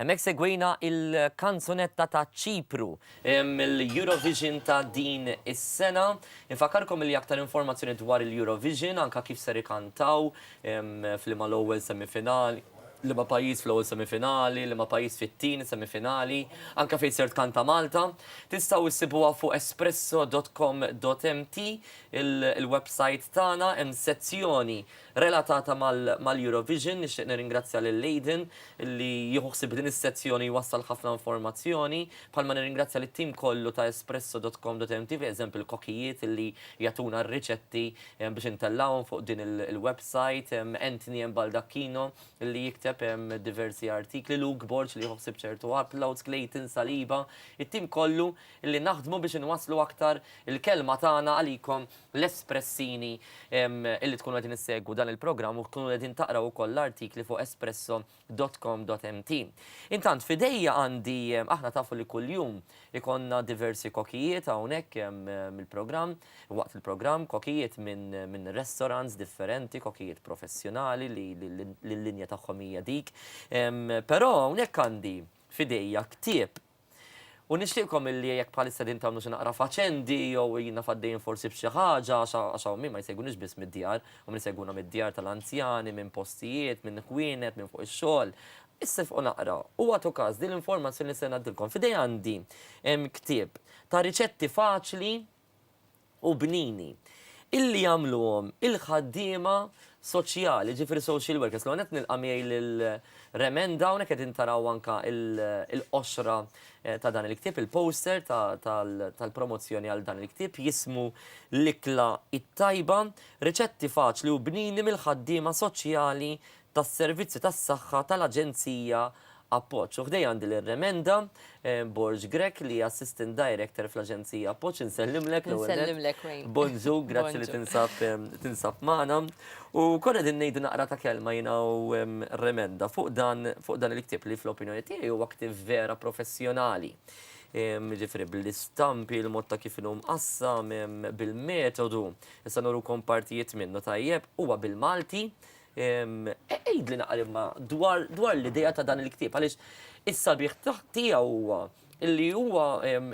Hemmhekk segwejna il-kanzunetta ta' Ċipru. mill-Eurovision ta' din is-sena. Infakkarkom li aktar informazzjoni dwar il-Eurovision, anke kif ser ikantaw, f'liema l-ewwel semifinali, liema pajjiż fl-ewwel semifinali, liema pajjiż fit-tieni semifinali, anke fejn ser tkanta Malta, tistgħu ssibuha fuq espresso dot com dot mt, il-websajt tagħna, hemm sezzjoni relatata mal-Eurovision. Nixtieq nirringrazzja lil Aidan li jieħu ħsieb din is-sezzjoni jwassal ħafna informazzjoni, bħalma nirringrazzja lit-tim kollu ta' espresso.com.mt pereżempju l-kokijiet li jagħtuna r-riċetti biex intellgħuhom fuq din il-website, Anthony M. Baldacchino li jikteb diversi artikli, Luke Borg li jieħu ħsieb ċertu uploads, Clayton Saliba, it-tim kollu li naħdmu biex inwasslu aktar il-kelma tagħna għalikom l-espressini illi tkunu qegħdin issegwu dan il-programm u tkunu qegħdin taqraw ukoll l-artikli fuq espresso dot com dot mt. Intant f'idejja għandi aħna tafu li kuljum ikonna diversi kokijiet hawnhekk mill-programm waqt il-programm kokijiet minn min restaurants differenti, kokijiet professjonali li l-linja tagħhom hija dik. Però hawnhekk għandi f'idejja ktieb U nixtieqkom illi jekk bħalissa qegħdin tagħmlu xi naqra faċendi jew qegħdin naf għaddejjin forsi b'xi ħaġa għax għax hawn min ma jsegwunix biss mid-djar, hawn min isegwuna mid-djar tal-anzjani, minn postijiet, minn ħwienet, minn fuq ix-xogħol. Issifqu naqra u agħtu każ din l-informazzjoni li se ngħaddilkom. F'idejja għandi ktieb ta' riċetti faċli, u bnini illi jagħmluhom il-ħaddiema soċjali, jiġifieri social workers. L-ewwel nett nilqa' miegħi lil Remenda, hawnhekk qegħdin taraw anke l-qoxra ta' dan il-ktieb, il-poster tal-promozzjoni għal dan il-ktieb, jismu L-Ikla t-Tajba, Riċetti Faċli u Bnini mill-Ħaddiema Soċjali tas-servizzi tas-saħħa tal-Aġenzija Appoġġ. U ħdejja għandi lil Remenda Borg Grech li hija Assistant Director fl-Aġenzija Appoġġ. Insellimlek l-ewwel nett. Insellimlek Wayne. Bonġu, grazzi li tinsab tinsab magħna. U konna qegħdin ngħidu naqra ta' kelma jiena u Remenda fuq dan fuq dan il-ktieb li fl-opinjoni tiegħi huwa ktieb vera professjonali. Jiġifieri bl-istampi, il-mod ta' kif inhu mqassam, bil-metodu. Issa nurukom partijiet minnu tajjeb. Huwa bil-Malti, Għidlna imma dwar l-idea ta' dan il-ktieb għaliex is-sabiħ tiegħu huwa li huwa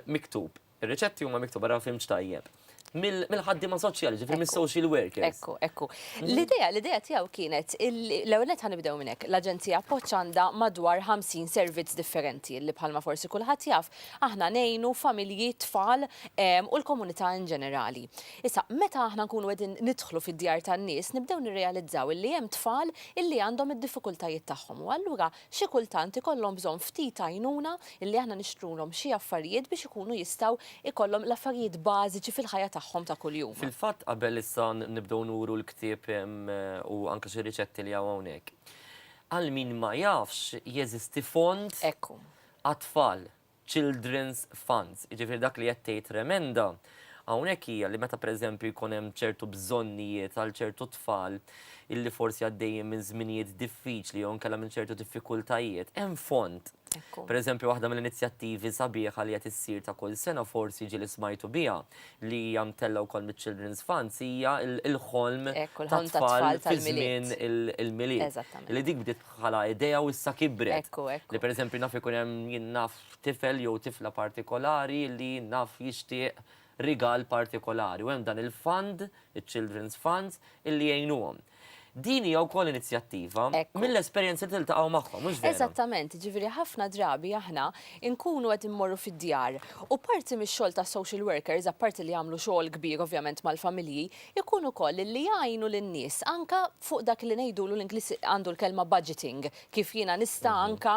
miktub, ir-riċetti huma miktuba ra fhimtx tajjeb, mill-ħaddiema soċjali, ġifieri mis-social workers. Ekku, ekku. L-idea, l-idea tiegħu kienet l-ewwel nett ħanibdew minn hekk, l-Aġenzija Appoġġ għandha madwar 50 servizz differenti li bħalma forsi kulħadd jaf aħna ngħinu familji, tfal u l-komunità in ġenerali. Issa, meta aħna nkunu qegħdin nidħlu fid-djar tan-nies, nibdew nirrealizzaw illi hemm tfal illi għandhom id-diffikultajiet tagħhom u allura xi kultant ikollhom bżonn ftit għajnuna illi aħna nixtrulhom xi affarijiet biex ikunu jistgħu jkollhom l-affarijiet bażiċi fil-ħajja tagħhom ta' kuljum. Fil-fatt, qabel issa nibdew nuru l-ktieb u anke xi riċetti li hawn hawnhekk, għal min ma jafx, jeżisti fond għat-tfal. children's funds. Jiġifieri dak li qed tgħid l-emenda hawnhekk hija li meta pereżempju jkun hemm ċertu bżonnijiet għal ċertu tfal illi forsi għaddejjin minn żminijiet diffiċli jew inkella minn ċertu diffikultajiet, hemm fond. Pereżempju waħda mill-inizjattivi sabiħa li qed issir ta' kull sena forsi ġieli smajtu biha li hija mtellgħa wkoll miċ-Children's Funds hija l-ħolm tat-tfal fi żmien il-Milied. Li dik bdiet bħala idea u issa kibret. Li per eżempju naf ikun hemm jien naf tifel jew tifla partikolari li naf jixtieq rigal partikolari u hemm dan il-fund, iċ-children's funds, illi jgħinuhom. Din hija wkoll inizjattiva mill-esperjenzi li tiltaqgħu magħhom, mhux vera? Eżattament, jiġifieri ħafna drabi aħna nkunu qed immorru fid-djar u parti mix-xogħol tas-social workers, apparti li jagħmlu xogħol kbir ovvjament mal-familji, ikun ukoll li jgħinu lin-nies anke fuq dak li ngħidulu l-Ingliż għandu l-kelma budgeting, kif jiena nista' anke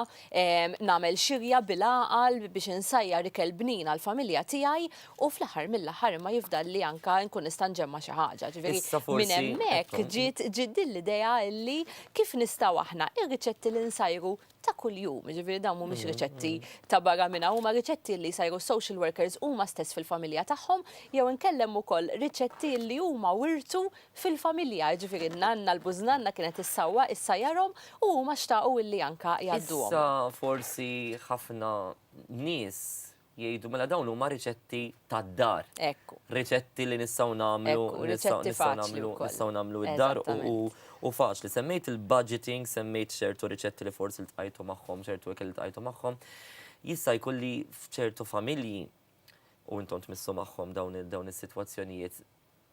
nagħmel xirja bil-għaqal biex insajjar ikel bnin għall-familja tiegħi u fl-aħħar mill-aħħar imma jifdalli anke nkun nista' nġemma' xi ħaġa. Ġifieri minn hemmhekk ġiet din l-idea li kif nistgħu aħna r-riċetti li nsajru ta' kuljum, jiġifieri dawn mhumiex riċetti ta' barra minn hawn, huma riċetti li jsajru s-social workers huma stess fil-familja tagħhom, jew inkella hemm ukoll riċetti li huma wirtu fil-familja, jiġifieri n-nanna, l-bużnanna kienet issawwa, issajjarhom u huma xtaqu li anke jgħadduhom. Issa forsi ħafna nies Jgħidu mela dawn huma riċetti tad-dar. Ekku. Riċetti li nistgħu nagħmlu. Ekku, riċetti faċli wkoll. Nistgħu nagħmlu d-dar u faċli. Semmejt il-budgeting, semmejt ċertu riċetti li forsi ltqajtu magħhom, ċertu ikel li ltqajtu magħhom. Jista' jkun li f'ċertu familji, u intom tmissu magħhom dawn is-sitwazzjonijiet,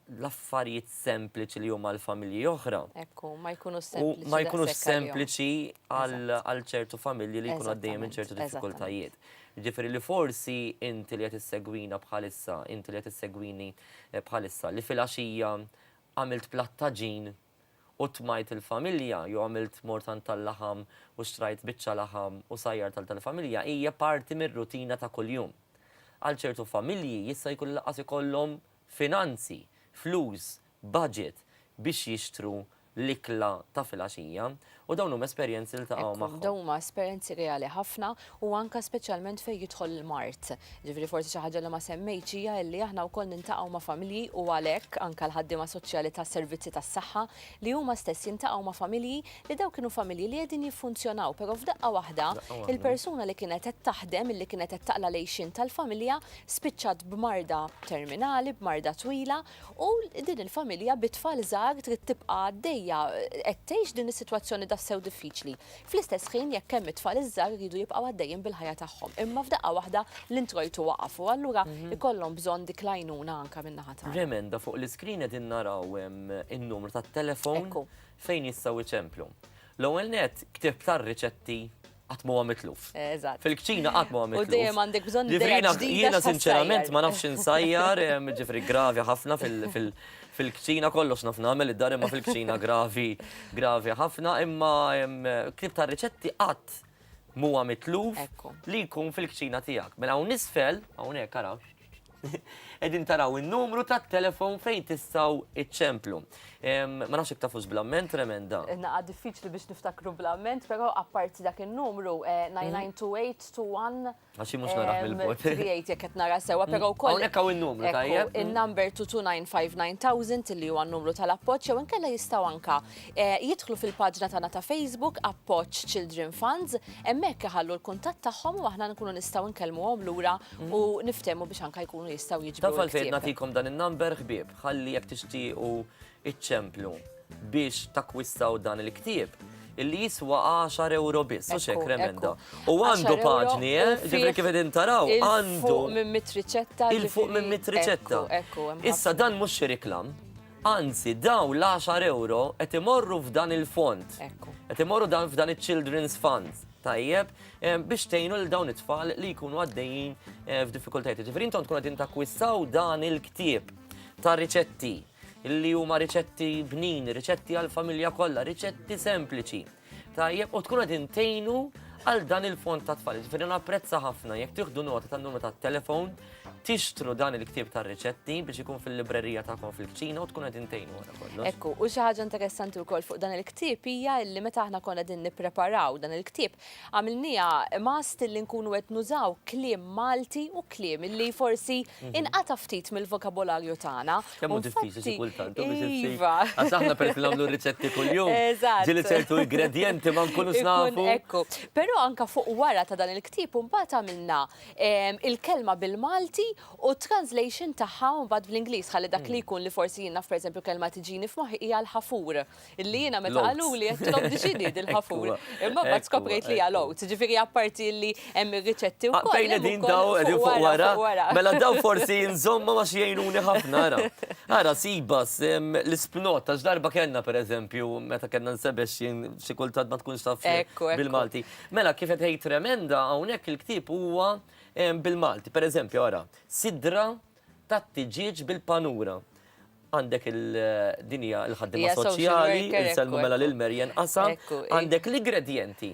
l-affarijiet sempliċi li huma għal familji oħra. Ekku, ma jkunux sempliċi. Ma jkunux sempliċi għal ċertu familji li jkunu għaddejjem minn ċertu diffikultajiet. Ġifiri li forsi inti li qed issegwina bħalissa, inti li qed issegwini eh, bħalissa, li fil-għaxija għamilt plattaġin u tmajt il-familja, jew għamilt mortan tal-laħam u xtrajt biċċa laħam u sajjar tal-familja, hija parti mir-rutina ta' kuljum. Għal ċertu familji jista' jkun laqas ikollhom finanzi, flus, budget biex jixtru l-ikla ta' filgħaxija u dawn huma esperjenzi li ltaqgħu magħhom. Ekku, dawn huma esperjenzi reali ħafna u anke speċjalment fejn jidħol il-mard. Jiġifieri forsi xi ħaġa li ma semmejtx hija illi aħna wkoll niltaqgħu ma' familji u għalhekk anke l-ħaddiema soċjali tas-servizzi tas-saħħa li huma stess jiltaqgħu ma' familji li dawk kienu familji li qegħdin jiffunzjonaw però f'daqqa waħda il-persuna li kienet qed taħdem illi kienet qed taqla' l-għixien tal-familja spiċċat b'marda terminali, b'marda twila, u din il-familja bit-tfal żgħar trid tibqa' għaddejja qed tgħix din is-sitwazzjoni tassew diffiċli. Fl-istess ħin jekk hemm it-tfal iż-żgħar iridu jibqgħu għaddejjin bil-ħajja tagħhom. Imma f'daqqa waħda l-introjtu waqaf u allura mhm. ikollhom bżonn dik l-għajnuna anke min-naħa tagħna. Remenda fuq l-iskrin qegħdin naraw in-numru tat-telefon fejn jistgħu iċemplu. L-ewwel net ktib tar-riċetti qatt ma huwa mitluf. Eżatt. Fil-kċina qatt ma huwa mitluf. U dejjem għandek bżonn li jiena jiena sinċerament ma nafx insajjar, ġifri gravi ħafna fil-kċina kollox naf nagħmel id-dar imma fil-kċina gravi gravi ħafna imma kif ta' riċetti qatt huwa mitluf li jkun fil-kċina tiegħek. Mela hawn nisfel, hawnhekk arax. Edin taraw il-numru ta' telefon fejn tistaw iċċemplu. Ma nafx iktafux blamment, tremenda. Naqa diffiċli biex niftakru blamment, pero apparti dak il-numru 99281. Eh, mhm. Għaxi mux naraħ bil-bot. Trijajt jek et nara sewa, pero u koll. Għaw il-numru tajjeb. Il-number 2295000 li huwa n-numru tal-appoċ, jew inkella jistaw anka Jidħlu fil-paġna tagħna ta' Facebook Appoġġ Children Funds, hemmhekk iħallu l-kuntatt tagħhom u aħna nkunu nistgħu nkellmuhom lura u niftehmu biex anke jkunu jistgħu jiġbru l-ktieb. Taf għalfejn nagħtikom dan in-number ħbieb, ħalli jekk tixtiequ iċċemplu biex takkwistaw dan il-ktieb, illi jiswa għaxar ewro biss, mhux hekk Remenda? U għandu paġni, eh, ġifieri kif qegħdin taraw, għandu. Il-fuq minn mitt riċetta. Il-fuq minn mitt riċetta. Issa dan mhux xi riklam. Anzi, dawn l-għaxar ewro qed imorru f'dan il-fond. Ekku. Qed imorru dan f'dan iċ-Children's Fund. Tajjeb, eh, biex tgħinu l dawn it-tfal li jkunu għaddejjin eh, f'diffikultajiet. Ġifieri intom tkun qegħdin takkwistaw dan il-ktieb ta' riċetti li huma riċetti bnin, riċetti għall-familja kollha, riċetti sempliċi. Tajjeb, u tkun għadin tejnu għal dan il-fond ta' tfal. Ġifiri napprezza ħafna, jek tiħdu nota ta' numru ta' telefon, tixtru dan il-ktib ta' riċetti biex ikun fil-librerija ta' kon fil-kċina u tkun għadin tejnu għana kollu. Ekku, u xaħġa interessanti u koll fuq dan il-ktib hija li meta aħna kon għadin nipreparaw dan il-ktib, għamilnija mast li nkunu għed nużaw klim Malti u klim li forsi mhm. inqata ftit mill-vokabolarju tagħna. Kemm hu diffiċli kultant, u biex insib. Iva. Għax aħna per nagħmlu riċetti kuljum. Eżatt. Ġili ċertu ingredienti ma nkunux nafu. Ekku. Però anka fuq wara ta' dan il-ktieb imbagħad għamilna ehm, il-kelma bil-Malti u translation tagħha mbagħad bl-Ingliż ħalli dak li jkun li forsi jien naf pereżempju kelma tiġini f'moħħi hija l-ħafur. Illi jiena meta qaluli għedtilhom dixini dil-ħafur. Imma bat skoprejt li għal-ot. Ġifiri apparti illi hemm ir-riċetti u koll. Għaddejna din daw għedin fuq wara. Mela daw forsi nżomma ma xiejnuni ħafna għara. Għara sibas l-ispnot ta' ġdarba kena per eżempju meta kena nsebex jien xikultat ma tkunx taf bil-Malti. Mela kif qed tgħid tremenda hawnhekk il-ktieb huwa bil-Malti. Per eżempju għara sidra tat-tiġieġ bil-panura. Għandek din hija l-ħaddiema soċjali, insellmu mela lil Maryann Qasam, għandek l-igredjenti.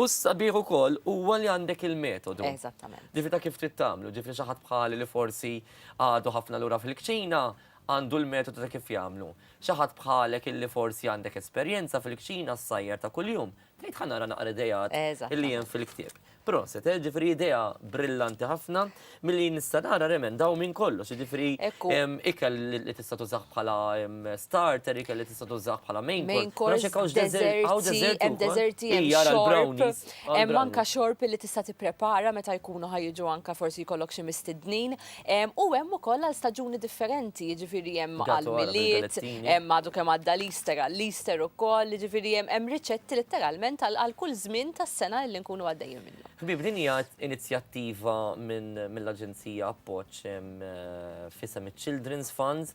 U s-sabiħ ukoll huwa li għandek il-metodu. Eżattament. Ġifi ta' kif trid tagħmlu, ġifi xi ħadd bħali li forsi għadu ħafna lura fil-kċina, għandu l-metodu ta' kif jagħmlu. Xi ħadd bħalek illi forsi għandek esperjenza fil-kċina s-sajjer ta' kuljum, Bdejt ħa nara naqra ideat li hemm fil-ktieb. Proset, eh, ġifri idea brillanti ħafna, milli nista' nara remen daw minn kollox, ġifri ikel li tista' tużaħ bħala starter, ikel li tista' tużaħ bħala main course. Għax hekk hawnx deżerti, hemm deżerti, hemm xorb, hemm anka xorb li tista' tipprepara meta jkunu ħajġu anka forsi jkollok xi mistednin, U hemm ukoll għal staġuni differenti, jiġifieri hemm għall-Milied, hemm għadu kemm għadda l-Easter, għall-Easter ukoll, jiġifieri hemm hemm riċetti litteralment għal għal kull żmien tas-sena illi nkunu għaddejjin minnu. Ħbieb, din hija inizjattiva minn mill-Aġenzija Appoġġ f'isem iċ-Children's Fund.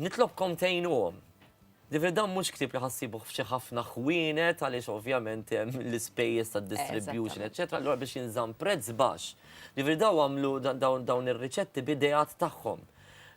Nitlobkom tgħinuhom. Ġifieri dan mhux ktieb li ħa ssibuh f'xi ħafna ħwienet għaliex ovvjament hemm l-ispejjeż tad-distribution eċċetera, allura biex jinżamm prezz baxx. Ġifieri dawn għamlu dawn ir-riċetti b'ideat tagħhom.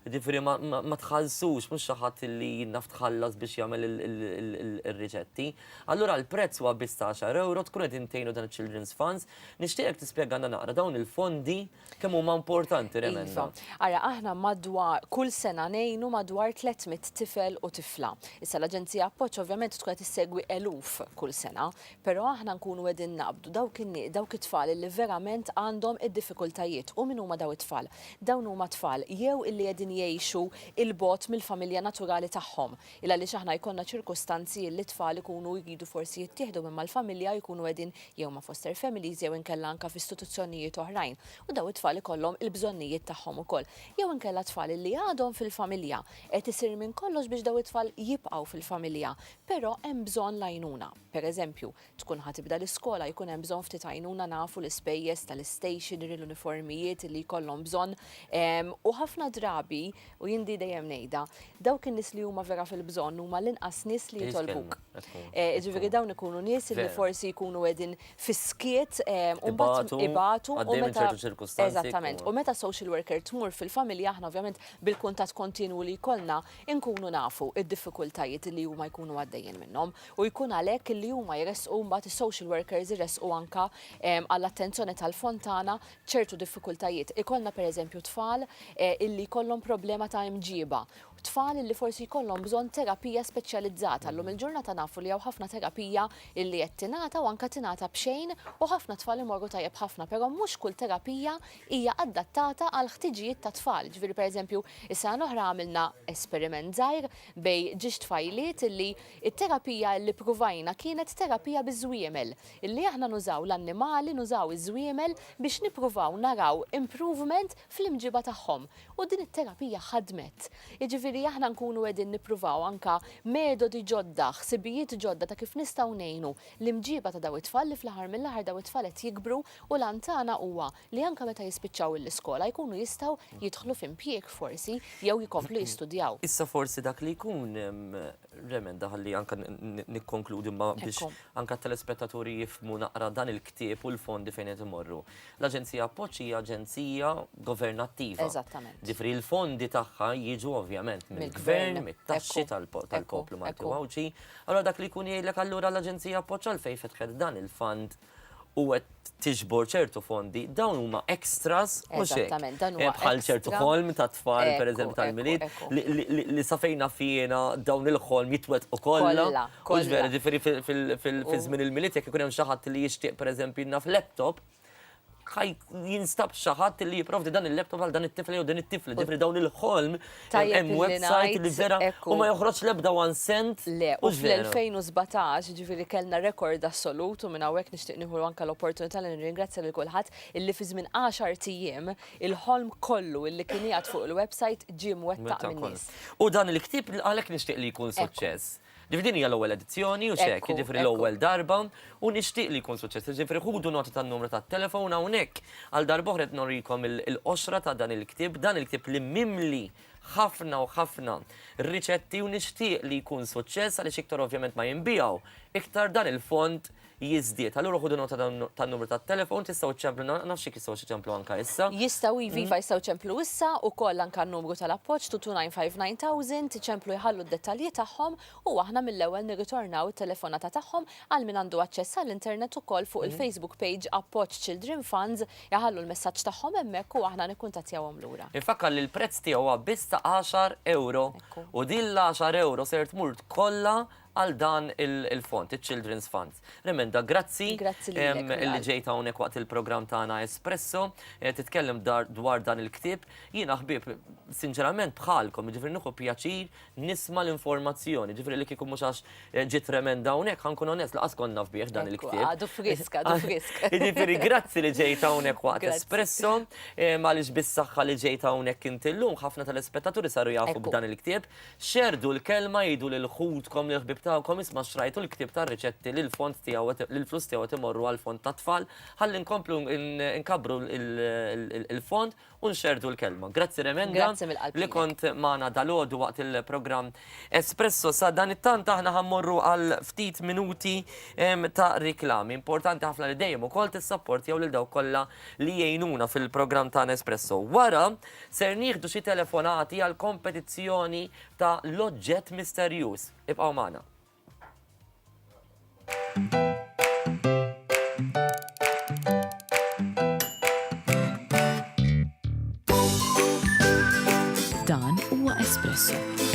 Ġifieri ma tħallsux, mhux xi ħadd li jien naf tħallas biex jagħmel ir-riċetti. Allura l-prezz huwa biss ta' għaxar ewro, tkun qed intgħinu dan iċ-Children's Funds. Nixtieqek tispjegalna naqra dawn il-fondi, Kemm huma importanti l-emendi? Iva. Ara, aħna madwar kull sena ngħinu madwar 300 tifel u tifla. Issa l-Aġenzija Appoġġ ovvjament tkun qed issegwi eluf kull sena, però aħna nkunu qegħdin naqbdu dawk in-nie, dawk it-tfal li verament għandhom id-diffikultajiet. U min huma dawn it-tfal? Dawn huma tfal jew illi qegħdin jgħixu 'l bogħod mill-familja naturali tagħhom, Il għaliex aħna jkollna ċirkustanzi illi t-tfal ikunu jridu forsi jittieħdu minn mal-familja u jkunu qegħdin jew ma' foster families jew inkella anke f'istituzzjonijiet oħrajn u dawn it-tfal ikollhom il-bżonnijiet tagħhom ukoll. Jew inkella t-tfal illi għadhom fil-familja. Qed isir minn kollox biex dawn it-tfal jibqgħu fil-familja, però hemm bżonn l-għajnuna. Pereżempju, Tkun ħa tibda l-iskola jkun hemm bżonn ftit għajnuna nafu l-ispejjeż tal-istationery, l-uniformijiet illi jkollhom bżonn u ħafna drabi u jien di dejjem ngħidha, dawk in-nies li huma vera fil-bżonn huma l-inqas nies li jitolbuk. Jiġifieri dawn ikunu nies illi forsi jkunu qegħdin fis-skiet u mbagħad ibatu u meta Eżattament. U meta social worker tmur fil-familja aħna ovvjament bil-kuntatt kontinwu li jkollna inkunu nafu d-diffikultajiet illi huma jkunu għaddejjin minnhom. u jkun għalhekk li huma jressqu mbagħad is-social workers iressqu anke għall-attenzjoni tal-fontana ċertu diffikultajiet. Ikollna pereżempju tfal illi jkollhom problema ta' imġieba, tfal illi forsi jkollhom bżonn terapija speċjalizzata. Llum il-ġurnata nafu li hawn ħafna terapija illi qed tingħata u anke tingħata b'xejn u ħafna tfal imorru tajjeb ħafna, però mhux kull terapija hija adattata għall-ħtiġijiet tat-tfal. Ġifieri pereżempju, is-sena l-oħra għamilna esperiment żgħir bejn ġiex tfajliet illi It-terapija li ppruvajna kienet terapija biż-żwiemel, illi aħna nużaw l-annimali, nużaw iż-żwiemel biex nippruvaw naraw improvement fl-imġiba tagħhom. U din it-terapija ħadmet. Jiġifieri aħna nkunu qegħdin nippruvaw anke metodi ġodda, ħsibijiet ġodda ta' kif nistgħu ngħinu l-imġiba ta' dawn it-tfal li fl-aħħar mill-aħħar dawn it-tfal qed jikbru u l-għan tagħna huwa li anke meta jispiċċaw il-iskola jkunu jistgħu jidħlu f'impjieg forsi jew jkomplu jistudjaw. Issa forsi dak li jkun remenda ħalli anke nikkonkludi ma biex anke t-telespettaturi jifhmu naqra dan il-ktieb u l-fondi fejn qed imorru. L-Aġenzija Appoġġ hija aġenzija governattiva. Eżattament. Ġifieri l-fondi tagħha jiġu ovvjament mill-Gvern, mit-taxxi tal-poplu Malti u Għawdxi. Allura dak li jkun jgħidlek allura l-Aġenzija Appoġġ għalfejn fetħet dan il-fund u qed tiġbor ċertu fondi, dawn huma extras mhux hekk. Bħal ċertu ħolm ta' tfal pereżempju tal-Milied li sa fejn naf jiena dawn il-ħolm jitwettqu kollha. Mhux vera, ġifieri fi żmien il-Milied jekk ikun hemm xi ħadd li jixtieq pereżempju naf laptop, jinstab xi ħadd li jipprovdi dan il-laptop għal dan it-tifel jew din it-tifla. Ġifieri dawn il-ħolm Tajjeb Hemm li website ngħid li vera hekk u hu. ma joħroġx l-ebda one cent. Le, u Mhux vera. fl-2017, jiġifieri kellna rekord assolut u minn hawnhekk nixtieq nieħu anke l-opportunità li nirringrazzja lil kulħadd illi fi żmien għaxart ijiem il-ħolm kollu illi kien qiegħed fuq il-website ġie mwettaq Mwettaq kollu. min-nies. U dan il-ktieb għalhekk nixtieq li jkun Ekku. suċċess. Ġifieri din hija l-ewwel edizzjoni u x'hekk, jiġifieri l-ewwel darba u nixtieq li jkun suċċess. Jiġifieri ħudu nota tan-numru tat-telefon hawnhekk. Għal darba oħra qed norikom il-qoxra ta' dan il-ktieb, dan il-ktieb li mimli ħafna u ħafna riċetti u nixtieq li jkun suċċess għaliex iktar ovvjament ma jinbiegħu, iktar dan il-fond jiżdied. Allura ħudu nota tan-numru tat-telefon, tistgħu ċċemplu, nafx jekk jistgħux iċemplu anke issa. Jistgħu iva, iva jistgħu ċemplu issa, ukoll anke n-numru tal-appoġġ 2295000, iċemplu jħallu d-dettalji tagħhom u aħna mill-ewwel nirritornaw it-telefonata tagħhom, għal min għandu aċċess għall-internet ukoll fuq il-Facebook page Appoġġ Children Funds iħallu l-messaġġ tagħhom hemmhekk u aħna nikkuntattjawhom lura. Infakkar li l-prezz tiegħu huwa biss ta' għaxar ewro u din l-għaxar ewro ser tmur kollha għal dan il-fond, il-Children's Fund. Remenda, grazzi li ġejt hawnhekk waqt il-programm tagħna Espresso, eh, titkellem dwar dan il-ktieb. Jiena ħbieb, sinċerament bħalkom, ġifri nieħu pjaċir nisma l-informazzjoni, ġifri li kieku mhux għax eh, ġiet remenda hawnhekk, ħankun onest laqas konna fbieħ dan il-ktieb. Għadu frisk, għadu frisk. Ġifri grazzi li ġejt hawnhekk waqt Espresso, eh, għaliex bis-saħħa li ġejt hawnhekk inti llum ħafna tal-ispettaturi saru jafu b'dan il-ktieb. Xerrdu l-kelma, għidu lil ħutkom, lill-ħbieb tagħkom, isma' xtrajtu l-ktieb tar-riċetti li l-fond tiegħu qed li l-flus tiegħu qed imorru għall-fond tat-tfal, ħalli nkomplu nkabbru l-fond u nxerrdu l-kelma. Grazzi Remenda. Grazzi mill-qalb Li kont magħna dalgħodu waqt il-programm Espresso. Sadanittant aħna ħa mmorru għal ftit minuti ta' riklami. Importanti ħafna li dejjem ukoll tissapportjaw lil dawk kollha li jgħinuna fil-programm tagħna Espresso. Wara, Ser nieħdu xi telefonati għall-kompetizzjoni ta' l-oġġett misterjuż. Ibqgħu magħna. Dan huwa Espresso.